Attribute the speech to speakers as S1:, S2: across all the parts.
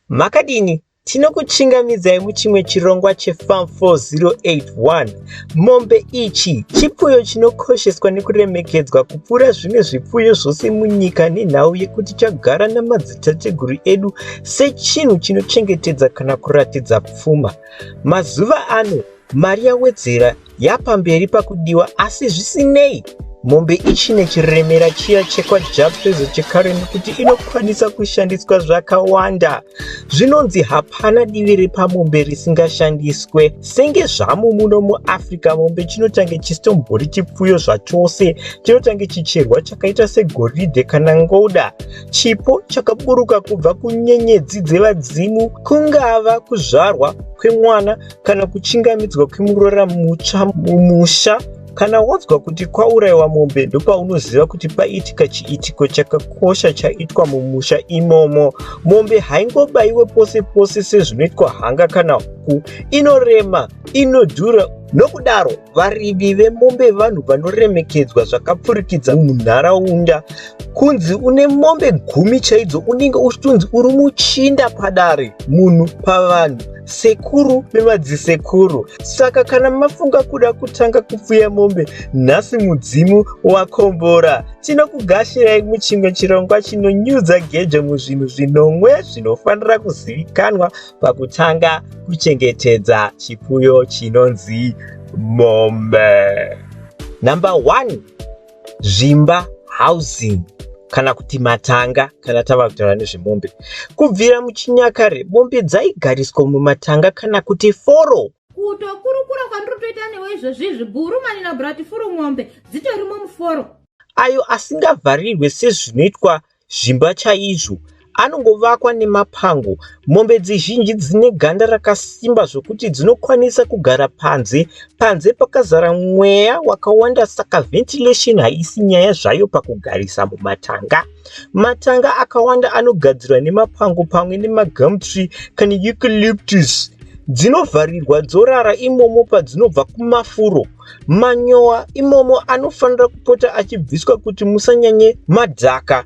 S1: Makadini? Tinokuchingamidzai muchimwe chirongwa cheFarm 4081. Mombe ichi chipfuyo chinokosheswa nekuremekedzwa kupfuura zvimwe zvipfuyo zvose munyika nenhau yekuti chagara namadzitateguru edu sechinhu chinochengetedza kana kuratidza pfuma. Mazuva ano, mari yawedzera yapamberi pakudiwa asi zvisinei mombe ichine chiremera chiya chekwajapfezo chekareni kuti inokwanisa kushandiswa zvakawanda zvinonzi hapana divi repamombe risingashandiswe senge zvamu muno muafrica mombe chinotange chisitombori chipfuyo zvachose chinotange chicherwa chakaita segoridhe kana ngoda chipo chakaburuka kubva kunyenyedzi dzevadzimu kungava kuzvarwa kwemwana kana kuchingamidzwa kwemuroora mutsva mumusha kana wonzwa kuti kwaurayiwa mombe ndopaunoziva kuti paitika chiitiko chakakosha chaitwa mumusha imomo mombe haingobayiwe pose pose sezvinoitwa hanga kana huku inorema inodhura nokudaro Varimi vemombe vanhu vanoremekedzwa zvakapfurikidza munharaunda. Kunzi une mombe gumi chaidzo unenge uchitonzi uri muchinda padare, munhu pavanhu sekuru nemadzisekuru. Saka kana mafunga kuda kutanga kupfuya mombe, nhasi mudzimu wakombora. Tinokugashirai muchimwe chirongwa chinonyudza gejo muzvinhu zvinomwe zvinofanira kuzivikanwa pakutanga kuchengetedza chipfuyo chinonzi mombe number one zvimba housing kana kuti matanga kana tava kutaura nezvemombe kubvira muchinyakare mombe dzaigariswa mumatanga kana kuti foro kutokurukura
S2: kwandiri kutoita newe izvozvi izvi gurumani na bratifuru mombe dzitorimo muforo ayo
S1: asingavharirwe sezvinoitwa zvimba chaizvo. Anongovakwa nemapango. Mombe dzizhinji dzine ganda rakasimba zvokuti dzinokwanisa kugara panze. Panze pakazara mweya wakawanda saka ventilation haisi nyaya zvayo pakugarisa mumatanga. Matanga akawanda anogadzirwa nemapango pamwe nemagum tree kana eucalyptus. Dzinovharirwa dzorara imomo padzinobva kumafuro. Manyowa imomo anofanira kupota achibviswa kuti musanyanye madhaka.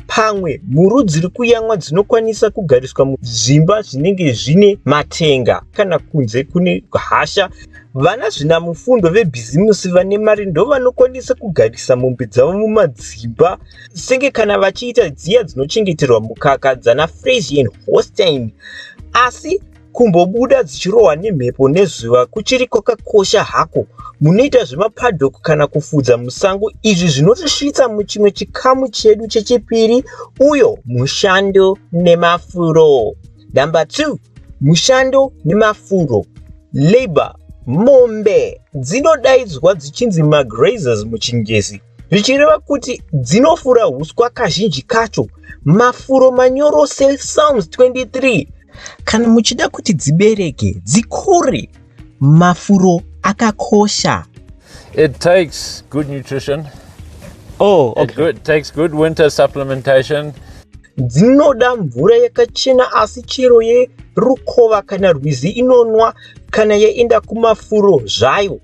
S1: Pamwe mhuru dziri kuyamwa dzinokwanisa kugariswa muzvimba zvinenge zvine matenga kana kunze kune hasha. Vana zvinamufundo vebhizimusi vane mari ndovanokwanisa kugarisa mombe dzavo mumadzimba senge kana vachiita dziya dzinochengeterwa mukaka dzana Fresian Holstein asi Kumbobuda dzichirohwa nemhepo nezuva kuchiri kwakakosha hako. Munoita zvemapaddock kana kufudza musango izvi zvinotisvitsa muchimwe chikamu chedu chechipiri uyo mushando nemafuro. Number 2 mushando nemafuro labor. Mombe dzinodaidzwa dzichinzi magrazers muchingezi. zvichireva kuti dzinofura huswa kazhinji kacho mafuro manyoro sesalms 23 kana muchida kuti dzibereke dzikure mafuro akakosha it
S3: takes good nutrition oh,
S1: okay. it good, takes good winter
S3: supplementation dzinoda
S1: mvura yakachena asi chero yerukova kana rwizi inonwa kana yaenda kumafuro zvayo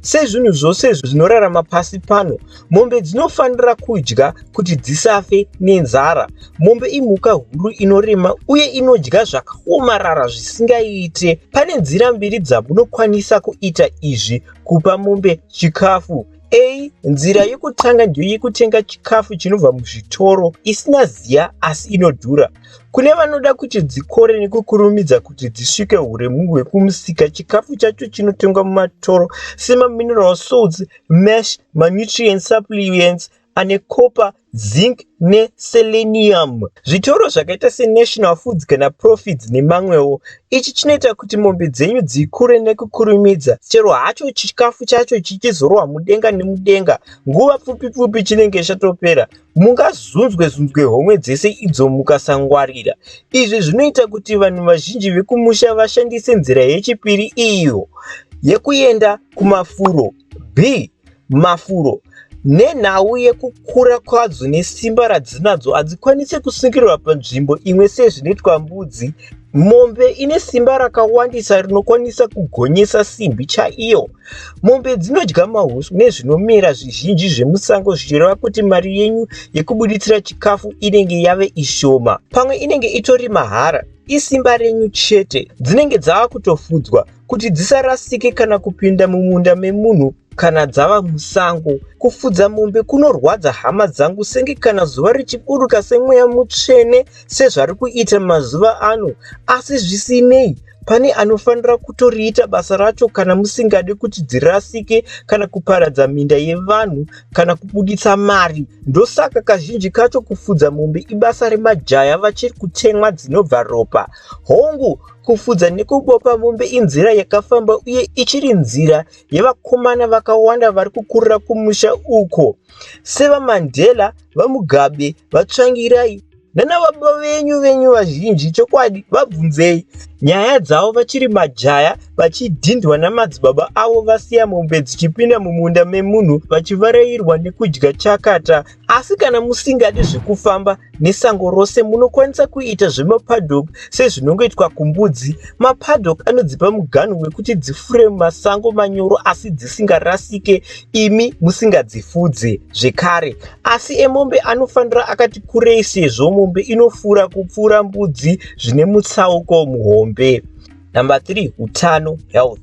S1: Sezvinhu zvose izvo zvinorarama pasi pano, mombe dzinofanira kudya kuti dzisafe nenzara. Mombe imhuka huru inorema uye inodya zvakaomarara zvisingaite. Pane nzira mbiri dzamunokwanisa kuita izvi kupa mombe chikafu. A. Nzira yokutanga ndiyo yekutenga chikafu chinobva muzvitoro isina ziya asi inodhura. Kune vanoda kuti dzikore nekukurumidza kuti dzisvike huremu hwekumusika, chikafu chacho chinotengwa mumatoro semamineral salts, mash, manutrient supplements, ane copper, zinc neselenium. Zvitoro zvakaita seNational Foods kana Profits nemamwewo. Ichi chinoita kuti mombe dzenyu dzikure nekukurumidza chero hacho chikafu chacho chichizorwa mudenga nemudenga, nguva pfupi pfupi chinenge chatopera. Mungazunzwe zunzwe homwe dzese idzo mukasangwarira. Izvi zvinoita kuti vanhu vazhinji vekumusha vashandise nzira yechipiri iyo yekuenda kumafuro b mafuro nenhau yekukura kwadzo nesimba radzinadzo hadzikwanise kusungirwa panzvimbo imwe sezvinoitwa mbudzi mombe ine simba rakawandisa rinokwanisa kugonyesa simbi chaiyo Mombe dzinodya mahuswa nezvinomera zvizhinji zvemusango zvichireva kuti mari yenyu yekubuditsira chikafu inenge yave ishoma. Pamwe inenge itori mahara, isimba renyu chete. Dzinenge dzava kutofudzwa kuti dzisarasike kana kupinda mumunda memunhu kana dzava musango. Kufudza mombe kunorwadza hama dzangu senge kana zuva richiburuka semweya mutsvene sezvari kuita mazuva ano. Asi zvisinei, Pane anofanira kutoriita basa racho kana musingade kuti dzirasike kana kuparadza minda yevanhu kana kubuditsa mari. Ndosaka kazhinji kacho kufudza mombe ibasa remajaya vachiri kutemwa dzinobva ropa. Hongu, kufudza nekubopa mombe inzira yakafamba uye ichiri nzira yevakomana vakawanda vari kukurira kumusha uko. SeVaMandela, VaMugabe, VaTsvangirai, Nana baba venyu venyu vazhinji chokwadi vabvunzei nyaya dzavo vachiri majaya vachidhindwa namadzibaba avo vasiya mombe dzichipinda mumunda memunhu vachivarairwa nekudya chakata asi kana musingadi zvekufamba nesango rose munokwanisa kuita zvemapadok sezvinongoitwa kumbudzi mapadok anodzipa muganhu wekuti dzifure mumasango manyoro asi dzisingarasike imi musingadzifudze zvekare asi emombe anofanira akati kurei sezvo mombe inofura kupfuura mbudzi zvine mutsauko muhombe number 3 utano health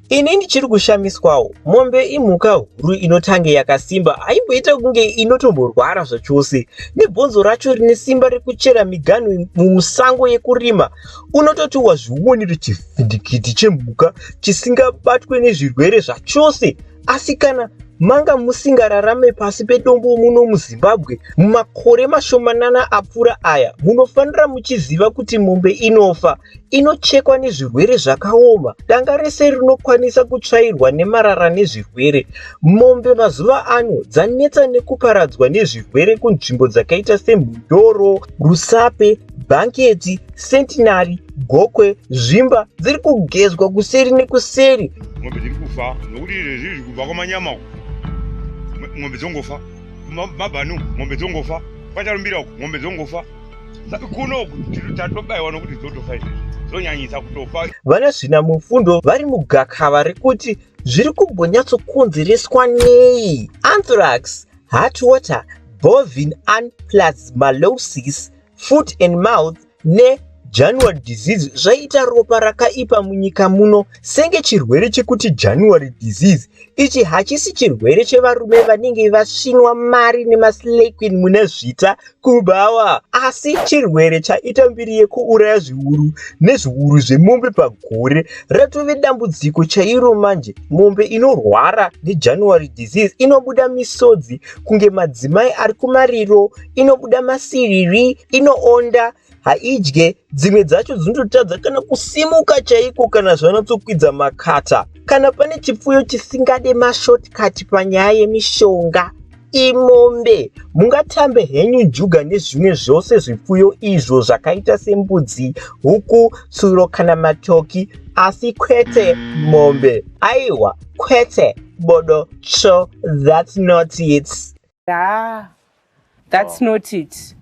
S1: ini ndichiri kushamiswawo mombe imhuka huru inotange yakasimba haimboita kunge inotomborwara zvachose nebhonzo racho rine simba rekuchera miganhu mumusango yekurima unototi wazviwoniri chifu Chipwitikitikiti chemhuka chisingabatwe nezvirwere zvachose asi kana manga musingararame pasi pedombo muno muzimbabwe mumakore mashomanana apfuura aya munofanira muchiziva kuti mombe inofa inochekwa nezvirwere zvakaoma danga rese rinokwanisa kutsvairwa nemarara nezvirwere mombe mazuva ano dzanetsa nekuparadzwa nezvirwere kunzvimbo dzakaita semhundoro rusape Bhanketi, sentinari, gokwe, zvimba dziri kugezwa kuseri nekuseri. Mombe dziri kufa
S4: nokuti izvezvi zviri kubva kwamanyama uku. Mombe dzongofa. Mabhanu, mombe dzongofa. Kwatarumbira uku, mombe dzongofa. Kuno uku tatobaiwa nokuti dzotofa izvezvi. Dzonyanyisa kutofa. Vana zvina
S1: mufundo vari mugakava rekuti zviri kumbonyatsokonzereswa nei? Anthrax Heart water, bovin an plasmalosis, foot and mouth ne January disease zvaita ropa rakaipa munyika muno senge chirwere chekuti January disease ichi hachisi chirwere chevarume vanenge vasvinwa mari nemaslay queen mune zvita Kubhawa asi chirwere chaita mbiri yekuuraya zviuru nezviuru zvemombe pagore ratove dambudziko chairo manje mombe inorwara nejanuary disease inobuda misodzi kunge madzimai ari kumariro inobuda masiriri inoonda haidye dzimwe dzacho dzinototadza kana kusimuka chaiko kana zvanatsokwidza makata kana pane chipfuyo chisingade mashortcut panyaya yemishonga imombe mungatambe henyu njuga nezvimwe zvose zvipfuyo izvo zvakaita sembudzi huku tsuro kana matoki asi kwete mombe aiwa kwete bodo cho that's not it haa
S5: thats not it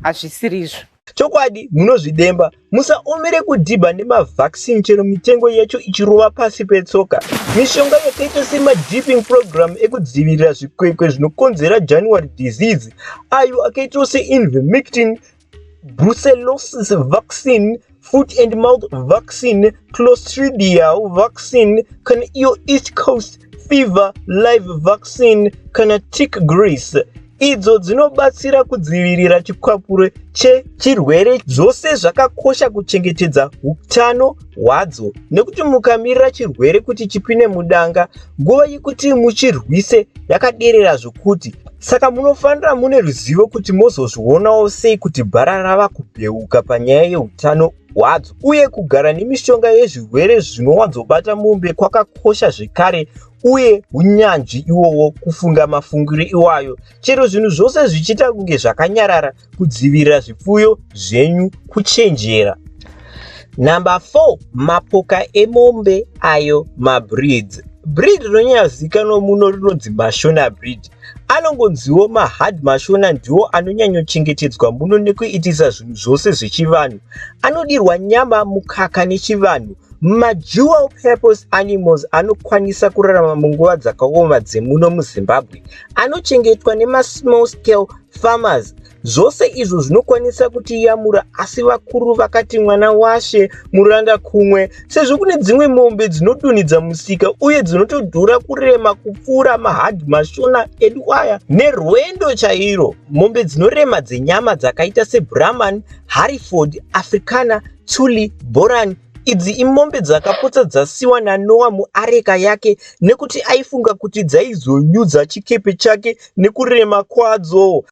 S5: hazvisirizvo chokwadi munozvidemba
S1: musaomere kudhibha nemavaccine chero mitengo yacho ichirova pasi petsoka mishonga yakaita semadiping program ekudzivirira zvikwekwe zvinokonzera january disease ayo akaitawo seinvemictin brucellosis vaccine foot and mouth vaccine clostridial vaccine kana iyo east coast fever live vaccine kana tick grease idzo dzinobatsira kudzivirira chikwapuro chechirwere zvose zvakakosha kuchengetedza utano wadzo nekuti mukamirira chirwere kuti chipine mudanga nguva yekuti muchirwise yakaderera zvokuti saka munofanira mune ruzivo kuti mozozvionawo sei kuti bhara rava kubheuka panyaya yeutano hwadzo uye kugara nemishonga yezvirwere zvinowanzobata mombe kwakakosha zvekare uye unyanzvi iwowo kufunga mafungiro iwayo chero zvinhu zvose zvichiita kunge zvakanyarara kudzivirira zvipfuyo zvenyu kuchenjera. Number 4 mapoka emombe ayo mabreeds breed rinonyazikanwa muno rinonzi mashona breed anongonziwo mahard mashona ndiwo anonyanyochengetedzwa muno nekuitisa zvinhu zvose zvechivanhu anodirwa nyama mukaka nechivanhu madual purpose animals anokwanisa kurarama munguva dzakaoma dzemuno muzimbabwe anochengetwa nemasmall scale farmers zvose izvo zvinokwanisa kutiyamura asi vakuru vakati mwana washe muranda kumwe sezvo kune dzimwe mombe dzinodunhidza musika uye dzinotodhura kurema kupfuura mahadhi mashona edu aya nerwendo chairo mombe dzinorema dzenyama dzakaita sebrahman hariford africana tuli boran Idzi imombe dzakapotsa dzasiwa naNoa muareka yake nekuti aifunga kuti dzaizonyudza chikepe chake nekurema kwadzo.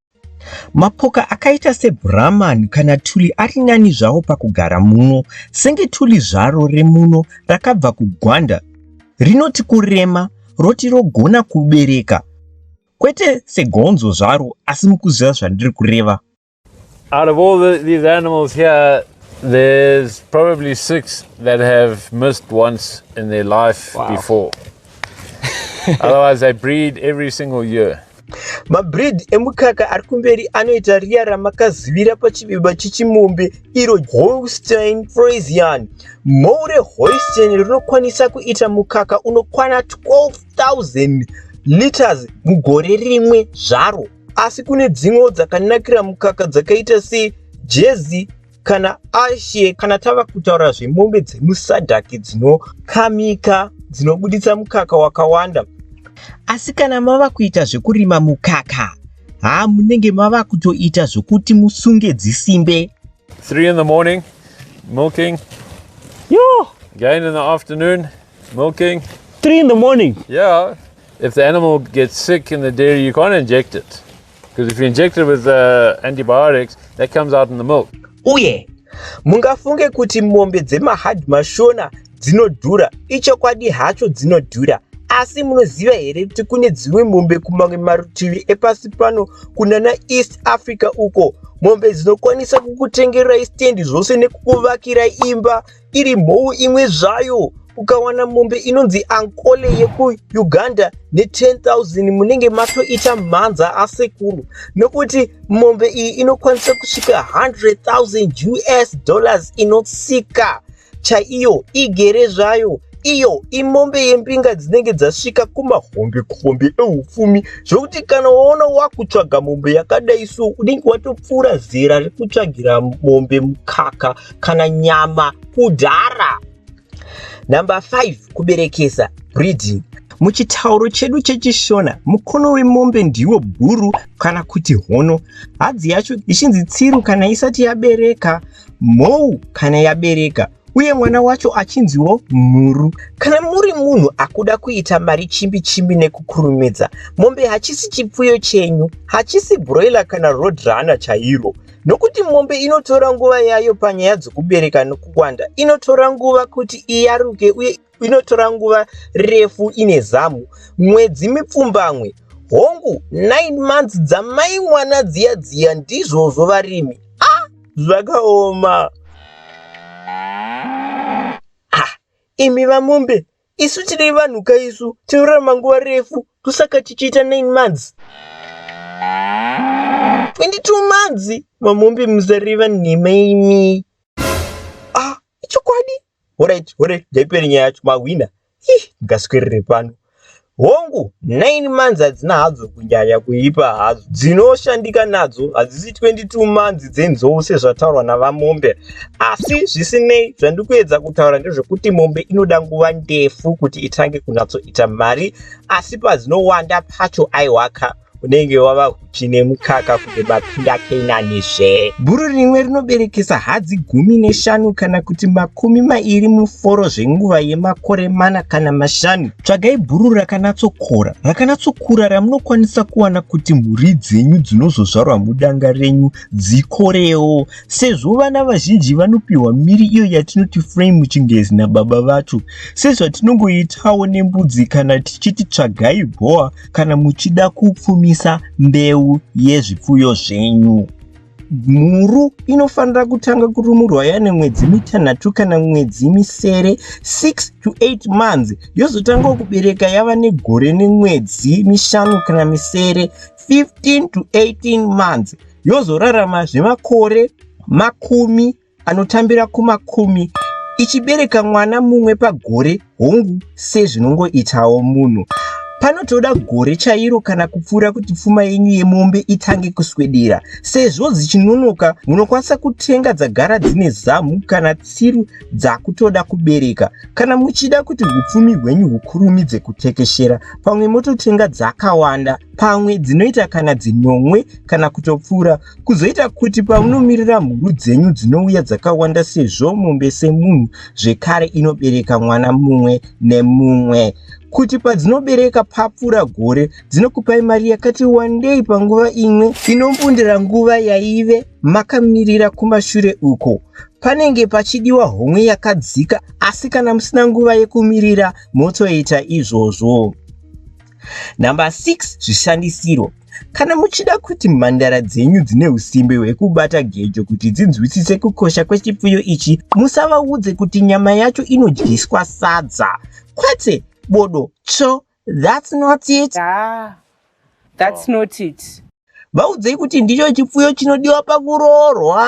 S1: Mapoka akaita seBrahman kana tuli ari nani zvawo pakugara muno, senge tuli zvaro remuno rakabva kuGwanda rinoti kurema roti rogona kubereka, kwete segonzo zvaro asi mukuziva zvandiri kureva. Out of
S3: all the, these animals here, there's probably six that have missed once in their life wow. before. Otherwise, they breed every single year. mabreed
S1: emukaka ari kumberi anoita riya ramakazivira pachivimba chechimombe iro holstein fresian more holstein rinokwanisa kuita mukaka unokwana 12000 liters mugore rimwe zvaro asi kune dzimwewo dzakanakira mukaka dzakaita sejezi kana ashe kana tava kutaura zvemombe dzemusadhaki dzinokamika dzinobuditsa mukaka wakawanda asi kana mava kuita zvekurima mukaka haa munenge mava kutoita zvokuti musunge dzisimbe 3 in the
S3: morning milking yo again in the afternoon milking 3 in the
S5: morning yeah
S3: If the animal gets sick in the dairy, you can't inject it. Because if you inject it with uh, antibiotics, that comes out in the milk. Uye,
S1: mungafunge kuti mombe dzemahard mashona dzinodhura. Ichokwadi hacho dzinodhura. asi munoziva here kuti kune dzimwe mombe kumamwe marutivi epasi pano kunana east africa uko mombe dzinokwanisa kukutengerai stendi zvose nekukuvakirai imba iri mhou imwe zvayo ukawana mombe inonzi ankole yekuuganda ne10000 munenge matoita mhanza asekuru nokuti mombe iyi inokwanisa kusvika 100000 us dollars inotsika chaiyo igere zvayo iyo imombe yembinga dzinenge dzasvika kumahombe kombe eupfumi zvokuti kana waona wakutsvaga mombe yakadai so unenge watopfuura zera rekutsvagira mombe mukaka kana nyama kudhara number 5 kuberekesa breeding muchitauro chedu chechishona mukono wemombe ndiwo bhuru kana kuti hono hadzi yacho ichinzi tsiru kana isati yabereka mhou kana yabereka uye mwana wacho achinziwo mhuru kana muri munhu akuda kuita mari chimbi chimbi nekukurumidza mombe hachisi chipfuyo chenyu hachisi broiler kana road runner chairo Nokuti mombe inotora nguva yayo panyaya dzokubereka nokuwanda, inotora nguva kuti iyaruke uye inotora nguva refu ine zamu, mwedzi mipfumbamwe. Hongu, nine months dzamai mwana dziya dziya ndizvozvo varimi. Ah, zvakaoma. Ah, imi vamombe Isu tiri vanhu ka isu tinorarama nguva refu tosaka tichiita 9 months 22 months mamombe musareva nhema imi ah ichokwadi horit horit ndaipere nyaya yacho mahwina ih ndingaswerere pano hongu 9 months hadzina hadzo kunyaya kuipa hadzo dzinoshandika nadzo hadzisi 22 months dzenzou sezvataurwa navamombe asi zvisinei zvandiri kuedza kutaura ndezvekuti mombe inoda nguva ndefu kuti itange kunatsoita mari asi padzinowanda pacho aiwaka unenge wava huchi nemukaka kuti mapinda kenanizve bhuru rimwe rinoberekesa hadzi gumi neshanu kana kuti makumi mairi muforo zvenguva yemakore mana kana mashanu tsvagai bhuru rakanatsokora rakanatsokura ramunokwanisa kuwana kuti mhuri dzenyu dzinozozvarwa mudanga renyu dzikorewo Sezvo vana vazhinji vanopiwa miri iyo yatinoti frame muchingezi nababa vacho, sezvatinongoitawo nembudzi kana tichiti tsvagai bhowa kana muchida kupfumisa mbeu yezvipfuyo zvenyu. Mhuru inofanira kutanga kurumurwa yane mwedzi mitanhatu kana mwedzi misere 6 to 8 months yozotangawo kubereka yava negore nemwedzi mishanu kana misere 15 to 18 months yozoraramazve makore makumi anotambira kumakumi ichibereka mwana mumwe pagore hongu sezvinongoitawo munhu panotoda gore chairo kana kupfuura kuti pfuma yenyu yemombe itange kuswedera sezvo dzichinonoka munokwanisa kutenga dzagara dzine zamu kana tsiru dzakutoda kubereka kana muchida kuti upfumi hwenyu hukurumidze kutekeshera pamwe mototenga dzakawanda pamwe dzinoita kana dzinomwe kana kutopfuura kuzoita kuti paunomirira mhuru dzenyu dzinouya dzakawanda sezvo mombe semunhu zvekare inobereka mwana mumwe nemumwe kuti padzinobereka papfuura gore dzinokupai mari yakati wandei panguva imwe inombundira nguva yaive makamirira kumashure uko panenge pachidiwa homwe yakadzika asi kana musina nguva yekumirira motoita izvozvo Number 6 zvishandisiro Kana muchida kuti mhandara dzenyu dzine usimbe hwekubata gejo kuti dzinzwisise kukosha kwechipfuyo ichi, musavaudze kuti nyama yacho inodyiswa sadza, kwete bodo tsvo. That's not it. Ah,
S5: that's not it. vaudzei kuti
S1: ndicho chipfuyo chinodiwa pakuroorwa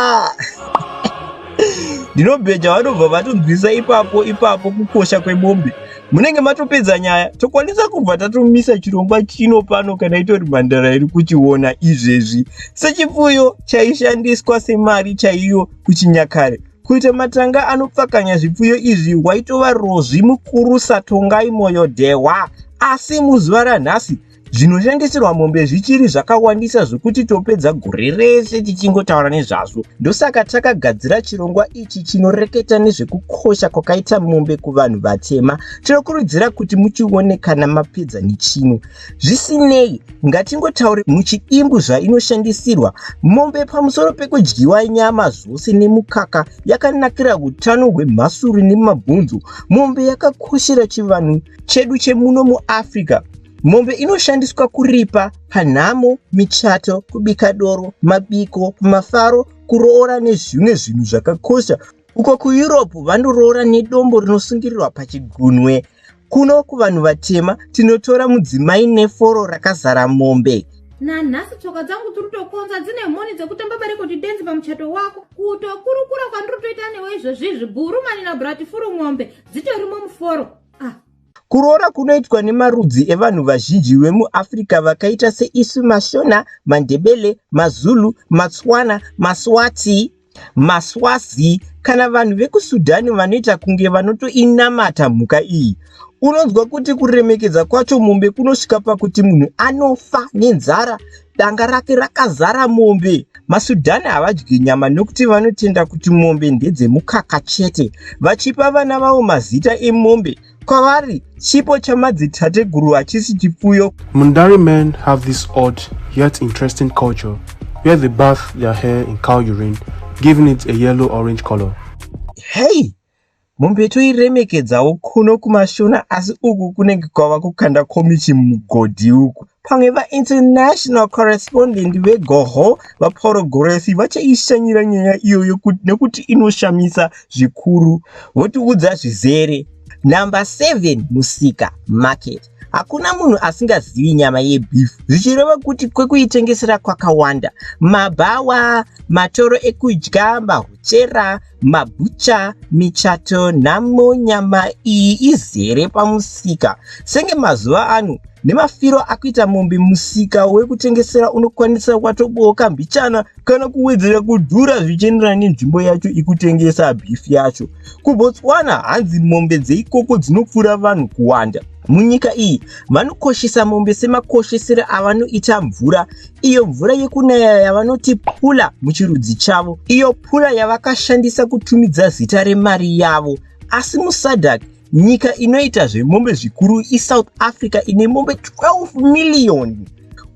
S1: ndinobheja vanobva vatonzwisa ipapo ipapo kukosha kwemombe munenge matopedza nyaya tokwanisa kubva tatomisa chirongwa chino pano kana itori mhandara iri kuchiona izvezvi sechipfuyo chaishandiswa semari chaiyo kuchinyakare kuita matanga anopfakanya zvipfuyo izvi waitova rozvi mukuru satongai moyo dhehwa asi muzuva ranhasi Zvinotengeserwa mombe zvichiri zvakawandisa zvokuti topedza gore rese tichingotaura nezvazvo. Ndosaka takagadzira chirongwa ichi chinoreketa nezvekukosha kwakaita mombe kuvanhu vatema. Tinokurudzira kuti muchione kana mapedza nechino. Zvisinei, ngatingotaure muchidimbu zvainoshandisirwa. Mombe pamusoro pekudyiwa nyama zvose nemukaka, yakanakira utano hwemhasuru nemabhonzo. Mombe yakakoshera chivanhu chedu chemuno muAfrica. Mombe inoshandiswa kuripa panhamo, michato, kubika doro, mabiko, kumafaro, kuroora nezvimwe zvinhu zvakakosha. Uko kuEurope vanoroora nedombo rinosungirirwa pachigunwe. Kuno kuvanhu vatema tinotora mudzimai neforo rakazara mombe. Nanhasi tsoka
S2: dzangu dziri kutokonza dzine mhoni dzekutamba bareko tidenzi pamuchato wako. Kutokurukura kwandiri kutoita newe izvozvizvi bhurumani nabhuratifuru mombe dzitorimo muforo. Ah. Kuroora
S1: kunoitwa nemarudzi evanhu vazhinji vemuAfrica vakaita seisu maShona, maNdebele, maZulu, maTswana, maSwati, maSwazi kana vanhu vekuSudan vanoita kunge vanotoinamata mhuka iyi. Unonzwa kuti kuremekedza kwacho mombe kunosvika pakuti munhu anofa nenzara Danga rake rakazara mombe. MaSudhani havadyi nyama nokuti vanotenda kuti mombe ndedzemukaka chete. Vachipa vana vavo mazita emombe, kwavari chipo chamadzitateguru hachisi chipfuyo. Mundari men
S6: have this odd yet interesting culture where they bath their hair in cow urine, giving it a yellow-orange color. Hey!
S1: Mombe toiremekedzawo kuno kumashona asi uku kunenge kwava kukanda komichi mugodhi uku. Pamwe vainternational correspondent vegoho vapauro goresi vachaishanyira nyaya iyoyo nekuti inoshamisa zvikuru votiudza zvizere. Number 7 musika market. Hakuna munhu asingazivi nyama yebeef zvichireva kuti kwekuitengesera kwakawanda. Mabhawa, matoro ekudya, mahuchera, mabhucha, michato nhamo nyama iyi izere pamusika. Senge mazuva ano nemafiro akuita mombe musika wekutengesera unokwanisa watobooka mbichana kana kuwedzera kudhura zvichienderana nenzvimbo yacho ikutengesa beef yacho. KuBotswana hanzi mombe dzeikoko dzinopfuura vanhu kuwanda. Munyika iyi vanokoshesa mombe semakoshesere avanoita mvura, iyo mvura yekunaya yavanoti pula muchirudzi chavo, iyo pula yavakashandisa kutumidza zita remari yavo. Asi muSadak, nyika inoita zvemombe zvikuru iSouth Africa ine mombe 12 miriyoni.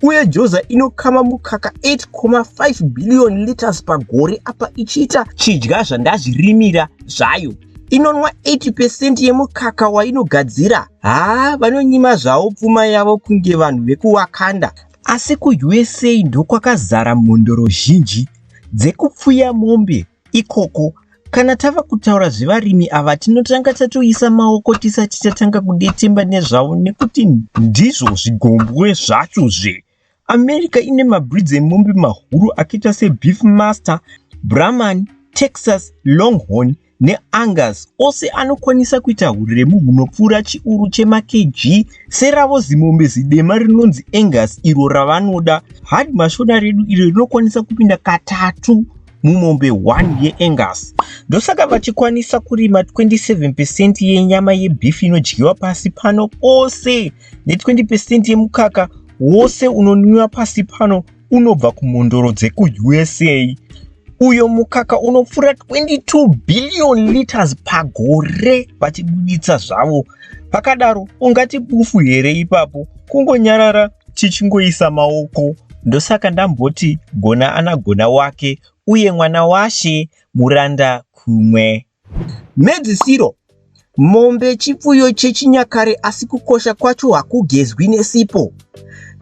S1: uye joza inokama mukaka 8.5 billion liters pagore apa ichiita chidya zvandazvirimira zvayo inonwa 80 pecent yemukaka wainogadzira haa vanonyima zvavo pfuma yavo kunge vanhu vekuwakanda asi kuusa ndokwakazara mhondoro zhinji dzekupfuya mombe ikoko Kana tava kutaura zvevarimi ava tinotanga tatoisa maoko tisati tatanga kudetemba nezvavo nekuti ndizvo zvigombwe zvacho zve. America ine mabreeds emombe mahuru akaita seBeef Master, Brahman, Texas, Longhorn neAngus ose anokwanisa kuita huremu hunopfuura chiuru chemaKG seravo zimombe zidema rinonzi Angus iro ravanoda. Hard mashona redu iro rinokwanisa kupinda katatu mumombe 1 yeAngus. Ndosaka vachikwanisa kurima 27% yenyama yebeef inodyiwa pasi pano pose ne20% yemukaka wose unonwiwa pasi pano unobva kumhondoro dzekuUSA uyo mukaka unopfuura 22 billion liters pagore vachibuditsa zvavo Pakadaro ungati bufu here ipapo kungonyarara tichingoisa maoko ndosaka ndamboti gona anagona wake uye mwana washe muranda kumwe. Mhedzisiro Mombe chipfuyo chechinyakare asi kukosha kwacho hakugezwi nesipo.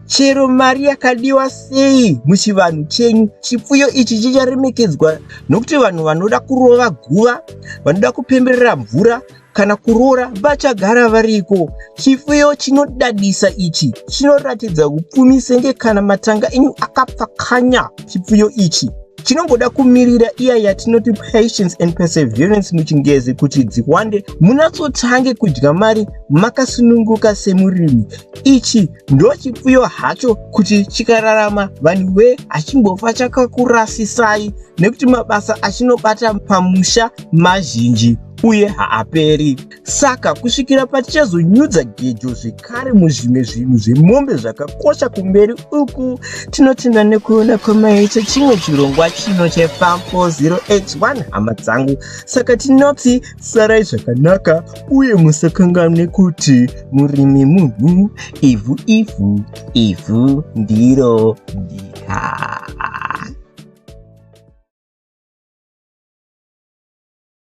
S1: Chero mari yakadiwa sei muchivanhu chenyu, chipfuyo ichi chicharemekedzwa nokuti vanhu vanoda kurova guva, vanoda kupemberera mvura, kana kuroora vachagara variko. Chifuyo chinodadisa ichi chinoratidza upfumi senge kana matanga enyu akapfakanya. Chifuyo ichi chinongoda kumirira iya yatinoti patience and perseverance muchingezi kuti dziwande munatsotange kudya mari makasununguka semurimi ichi ndo chipfuyo hacho kuti chikararama vanhu we hachimbofa chakakurasisai nekuti mabasa achinobata pamusha mazhinji uye haaperi. Saka kusvikira patichazonyudza gejo zvekare muzvimwe zvinhu zvemombe zvakakosha kumberi uku, tinotenda nekuona kwamaita chimwe chirongwa chino cheFarm 4081 hama dzangu. Saka tinoti sarai zvakanaka uye musakanganwe kuti murimi munhu, ivhu ivhu, ivhu ndiro nyika.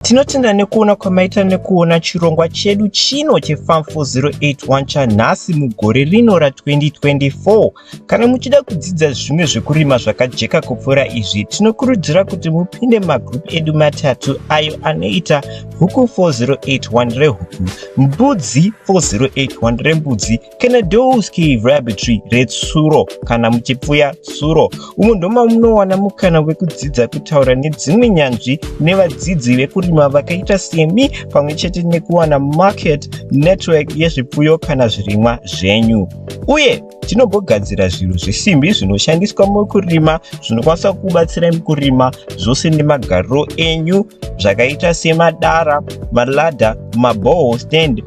S1: Tinotenda nekuona kwamaita nekuona chirongwa chedu chino cheFarm 4081 chanhasi mugore rino ra2024. Kana muchida kudzidza zvimwe zvekurima zvakajeka kupfuura izvi, tinokurudzira kuti mupinde magroup edu matatu ayo anoita Huku 4081 rehuku, Mbudzi 4081 rembudzi Kenedowski Rabbitry retsuro kana muchipfuya tsuro umo ndoma munowana mukana wekudzidza kutaura nedzimwe nyanzvi nevadzidzi vekurima vakaita semi pamwe chete nekuwana market network yezvipfuyo kana zvirimwa zvenyu uye tinogogadzira zvinhu zvesimbi zvinoshandiswa mukurima zvinokwanisa kubatsira mukurima zvose nemagariro enyu zvakaita semadara malada maboho stand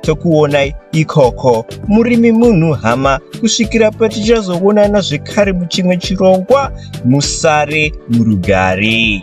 S1: tokuonai ikoko murimi munhu hama kusvikira patichazoonana zvekare muchimwe chirongwa musare murugare